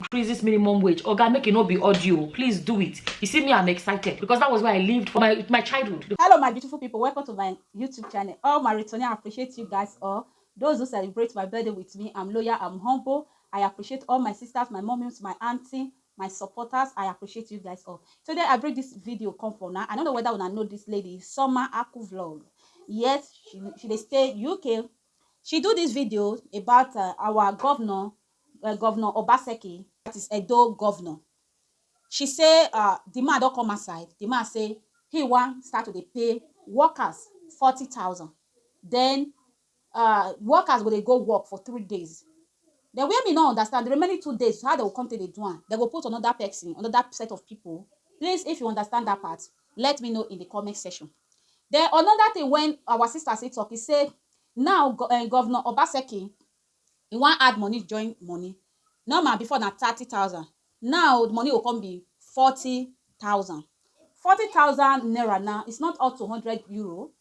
increase this minimum wage oga make it not be audio please do it you see me i'm excited because that was where i lived for my my childhood hello my beautiful people welcome to my youtube channel all my returning i appreciate you guys all those who celebrate my birthday with me i'm loyal i'm humble i appreciate all my sisters my mommies my auntie my supporters i appreciate you guys all today i bring this video come for now i don't know whether i know this lady summer aku vlog yes she, she they stay uk she do this video about uh, our governor um Govnor Obaseki, dat is Edo Govnor, she say um di man don come outside, di man say he wan start to dey pay workers forty thousand, den um workers go dey go work for three days, den where me no understand di remaining two days how dem go come take dey do am, dem go put anoda pesin, anoda set of pipu, please if you understand dat part let me know in di comment section. Den anoda tin wen our sista still tok, e say now um Govnor Obaseki e wan add money join money normal before na thirty thousand now the money go come be forty thousand forty thousand naira now is not up to hundred euro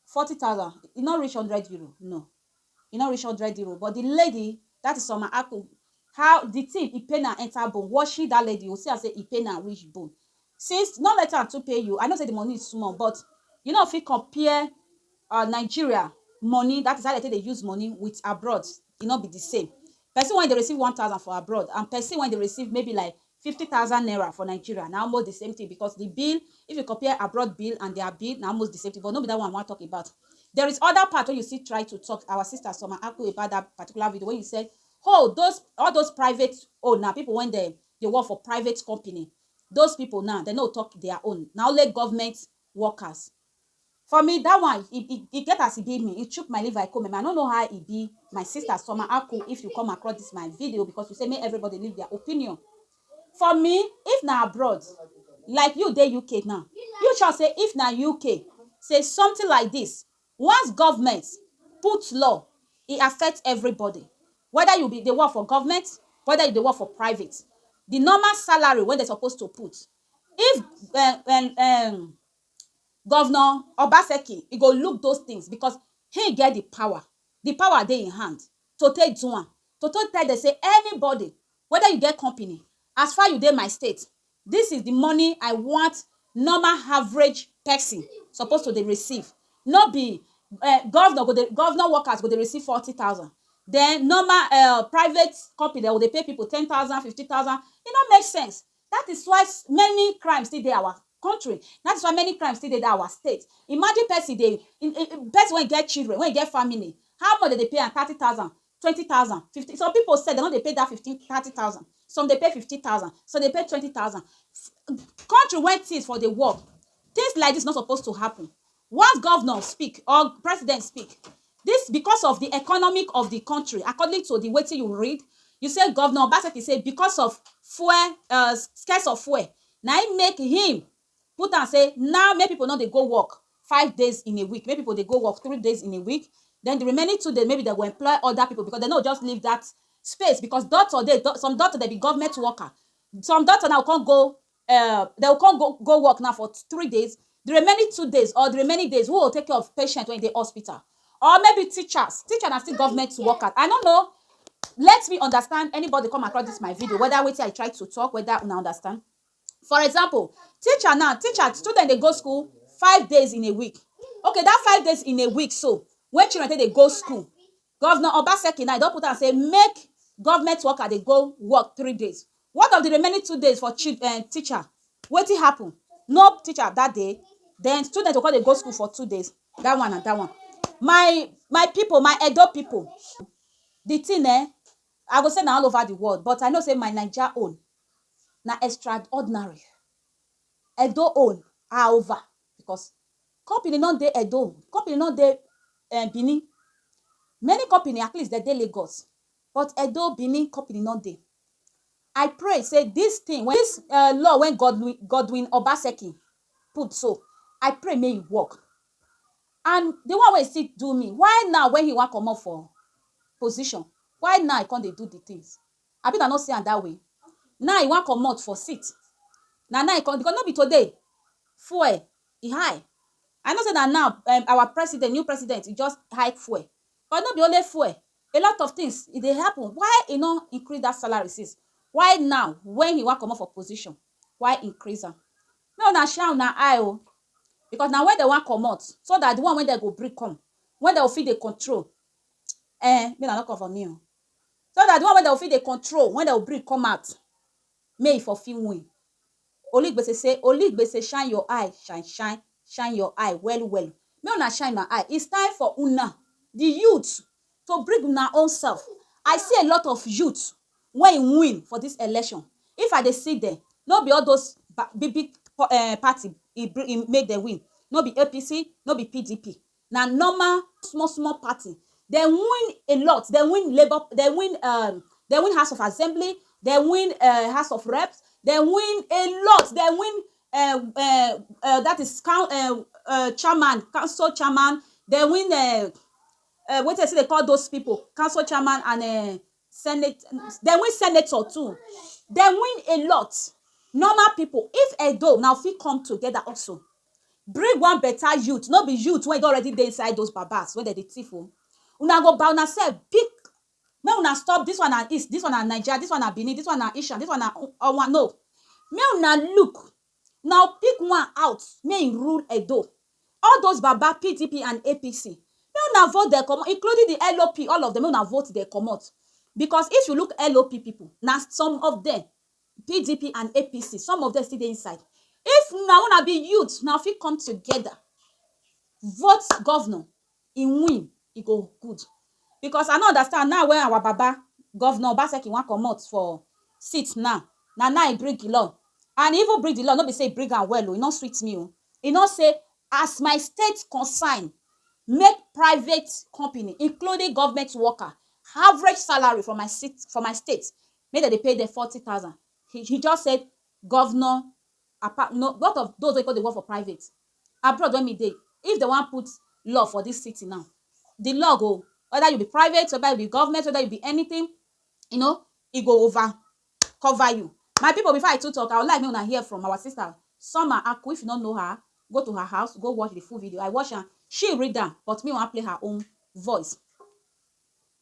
forty thousand e no reach hundred euro no e no reach hundred euro but the lady that is Summer Aku how the thing e pain am enter bone watching that lady you go see am say e pain am reach bone Since no let am too pay you, I know say the money small but you no fit compare um Nigeria money that is how dem take dey use money with abroad e no be the same person wey dey receive one thousand for abroad and person wey dey receive maybe like fifty thousand naira for Nigeria na almost the same thing because the bill if you compare abroad bill and their bill na almost the same thing but no be that one I wan talk about there is other part wey you still try to talk our sister Summer Aku about that particular video wey you said hold those all those private own na people wey dem dey work for private company Those people now dem no talk their own na only government workers for me that one e e e get as e be me e chook my liver e come me I no know how e be my sister summer aku if you come across this my video because you say make everybody leave their opinion for me if na abroad like you dey UK now you sure say if na UK say something like this Once government put law, e affect everybody, whether you be dey work for government, whether you dey work for private, the normal salary wey dem suppose to put, if um um governor Obaseki, e go look those things because him get the power, the power dey him hand to take do am, to take tell dem say anybody, whether you get company, as far you dey my state, This is the money I want normal average person suppose to dey receive no be um governor go dey governor workers go dey receive forty thousand then normal um private company dem go dey pay people ten thousand fifteen thousand e no make sense that is why many crime still dey our country that is why many crime still dey our state imagine person dey person wey get children wey get family how much dem dey pay am thirty thousand twenty thousand, fifteen some pipu sef dem no dey pay dat fifteen thirty thousand some dey pay fifty thousand some dey pay twenty thousand country wey things for dey work things like dis no suppose to happen once governor speak or president speak dis because of de economic of de country according to de wetin you read you sey governor obaseki sey because of fuel um scarce of fuel na im make him put am say now make pipo no dey go work five days in a week, make pipo dey go work three days in a week, den di remaining two days maybe dem go employ oda pipo becos dem no go just leave dat space becos doctor dey, some doctor dem be government worker, some doctor now go come go um dem go come go go work now for three days, di remaining two days or di remaining days who go take care of patient wey dey hospital? Or maybe teachers, teacher na still government worker, I no know, let me understand anybody come across dis my video weda wetin I try to talk weda una understand. For example, teacher now, teacher, student dey go school five days in a week. Okay, dat five days in a week so, wey children take dey go school, Governor Obaseki now, e don put am sey make government worker dey go work three days. What of the remaining two days for chil um teacher? Wetin happen? No teacher dat day? Den student go con dey go school for two days? Dat one na dat one. My my pipu, my Edo pipu, the thing um, I go say na all over the world, but I know sey my Naija own na extraordinary. Edo own are over because company no dey Edo, company no dey um Benin. Many company at least dem dey Lagos but Edo, Benin company no dey. I pray sey dis thing wey dis um law wey Godwin Godwin Obaseki put so, I pray make e work. And de one wey e still do me, why now wey e wan comot for position, why now e come dey do de things? Abi una no see am that way? Now e wan commot for seat, na now e come because no be today fuel e high. I know say na now um our president, new president e just hike fuel but no be only fuel, a lot of things e dey happen. Why e no increase that salary since? Why now when e wan commot for position, why increase am? Make una shine una eye o because na when dem wan commot so that the one wey dem go bring come, when dem go fit dey control um make una no come for me o. So dat di one wey dem go fit dey control wen dem go bring come out make e for fit win. Oligbese say Oligbese shine your eye shine shine shine your eye well well make una shine una eye it's time for una di youths to bring una own self I see a lot of youths wey e win for dis election if I dey see dem no be all those big big party e make dem win no be APC no be PDP Na normal small small party. Dem win a lot, dem win labour, dem win um dem win house of assembly, dem win um house of reps, dem win a lot, dem win um um dat is coun um um chairman, council chairman, dem win um um wetin dem still dey call those pipu, council chairman and um senate dem win senator too dem win a lot normal people if Edo now fit come together also bring one better youth no be youth wey don already dey inside those babas wey dem dey thief o una go by una self pick make una stop this one na east this one na naija this one na Benin this one na ishan this one na owan no make una look Now pick one out make him rule Edo all those baba pdp and APC make una vote dem comot including the LOP all of them make una vote dem comot because if you look LOP people na some of them pdp and APC some of them still dey inside if na una be youth una fit come together vote governor e win e go good because I no understand now wey our baba governor obaseki wan comot for seat now na now e bring the law and e even bring the law no be say e bring am well o e no sweet me o e no say as my state concern make private company including government worker average salary for my seat for my state make dem dey pay dem forty thousand he he just said governor apa no both of those wey con dey work for private abroad wey me dey if dem wan put law for dis city now di law go weda you be private weda you be government weda you be anytin you know e go over cover you my pipo before I too talk I would like make una hear from our sister Summer Aku if you no know her go to her house go watch di full video I watch am she read am but me wan play her own voice.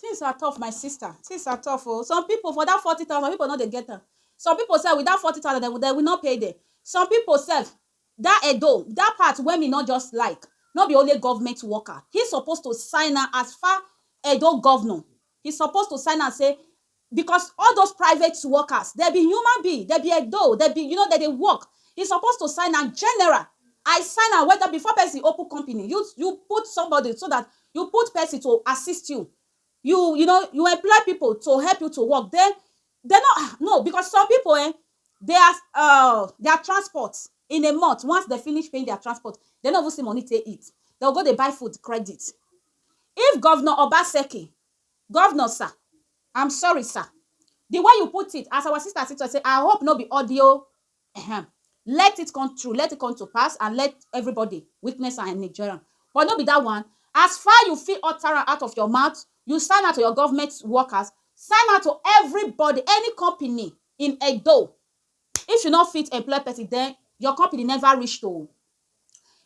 Things are tough my sister, things are tough oh, some people for that forty thousand people no dey get am, some people sef with that forty thousand dem dem will not pay dem, some people sef that Edo that part wey me no just like no be only government worker, he suppose to sign am as far Edo governor he suppose to sign am say Because all those private workers, dem be human being, dem be edo, dem be, you know, dem dey work. He suppose to sign am general. I sign am whether before person open company, you you put somebody so that you put person to assist you. You you know, you employ people to help you to work. Then dem no ah no because some people ehn, their um their transport in a month, once dem finish paying their transport, dem no even see money take eat. Dem go go dey buy food credit. If Governor Obaseki Governor sir, I'm sorry sir, the way you put it, as our sister still talk say I hope no be audio ehem, let it come true, let it come to pass and let everybody witness am and enjoy am but no be that one, as far you fit utter am out of your mouth, you sign am to your government workers, sign am to everybody, any company in Edo, if you no fit employ person then your company never reach to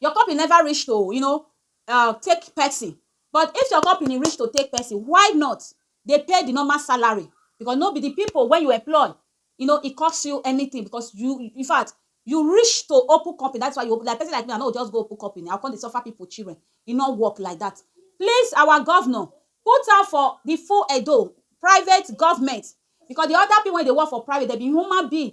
your company never reach to you know um take person but if your company reach to take person why not dey pay the normal salary because no be the people wey you employ you know e cost you anything because you infact you reach to open company that's why you open like person like me i no go just go open company i go come dey suffer people children e no work like that please our governor put hand for the full Edo private government because the other people wey dey work for private dem be human being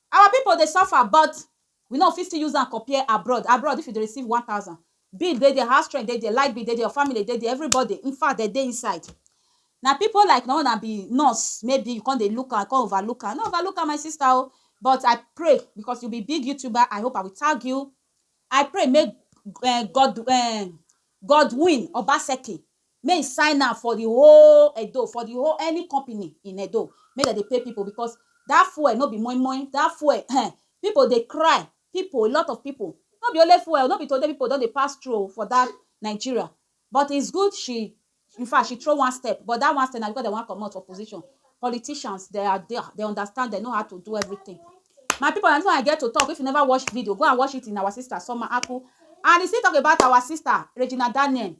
Our pipo dey suffer but we no fit still use am compare abroad, abroad if you dey receive one thousand, bill dey dia, house rent dey dia, light bill dey dia, your family dey dia, everybody infact dem dey inside. Na pipo like na una be nurse maybe you come dey look am, come over look am, no over look am my sister o but I pray becos you be big youtuber I hope I will tag you, I pray make um God um Godwin Obaseki Make he sign am for the whole Edo, for the whole any company in Edo, make dem dey pay people because that fuel no be moi moi, that fuel ehn, people dey cry, people, a lot of people, no be only fuel, no be today people don dey pass through o for that Nigeria, but it's good she, in fact she throw one step, but that one step na because dem wan comot for position, politicians they are there, they understand, they know how to do everything. My people na this one I get to talk, if you never watch video go and watch it in our sister Soma Aku and he still talk about our sister Regina Daniel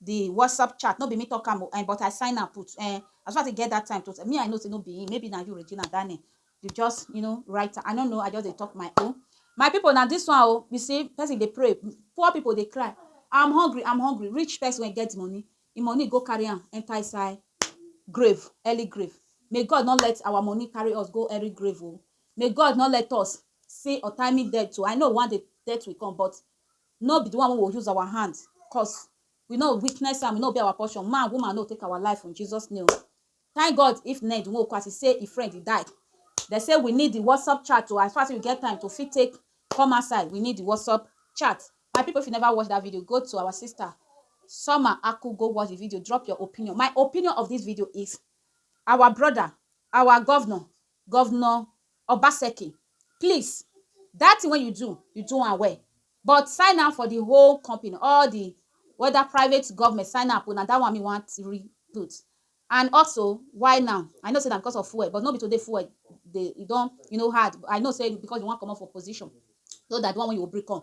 the WhatsApp chat, no be me talk am o, eh, but I sign am put, eh, as far as e get that time to, me I know say no be him, maybe na you Regina that name, you just, you know, write am, I no know, I just dey talk my own. My people, na this one o, you see, person dey pray, poor people dey cry, I'm hungry, I'm hungry, rich person wey get money, him money go carry am enter inside grave, early grave, may God no let our money carry us go early grave o, may God no let us see untimely death o, I know one day death will come but No be di one wey we go use our hand cause we no witness am, e no be our portion, man, woman no take our life in Jesus name. Thank God if Ned Nwoko as e say e friend e die, dem say we need di WhatsApp chat o, as far as we get time to fit take come outside we need di WhatsApp chat. My pipu if you never watch dat video go to our sister Summer Aku go watch di video drop your opinion. My opinion of dis video is our broda, our governor Governor Obaseki, please that thing wey you do, you do am well but sign am for the whole company, all the whether private, government, sign am put, na that one me wan read put and also why now, I know say na because of fuel but no be today fuel dey, e don you know hard, I know say because you wan comot for position so that the one wey you go bring come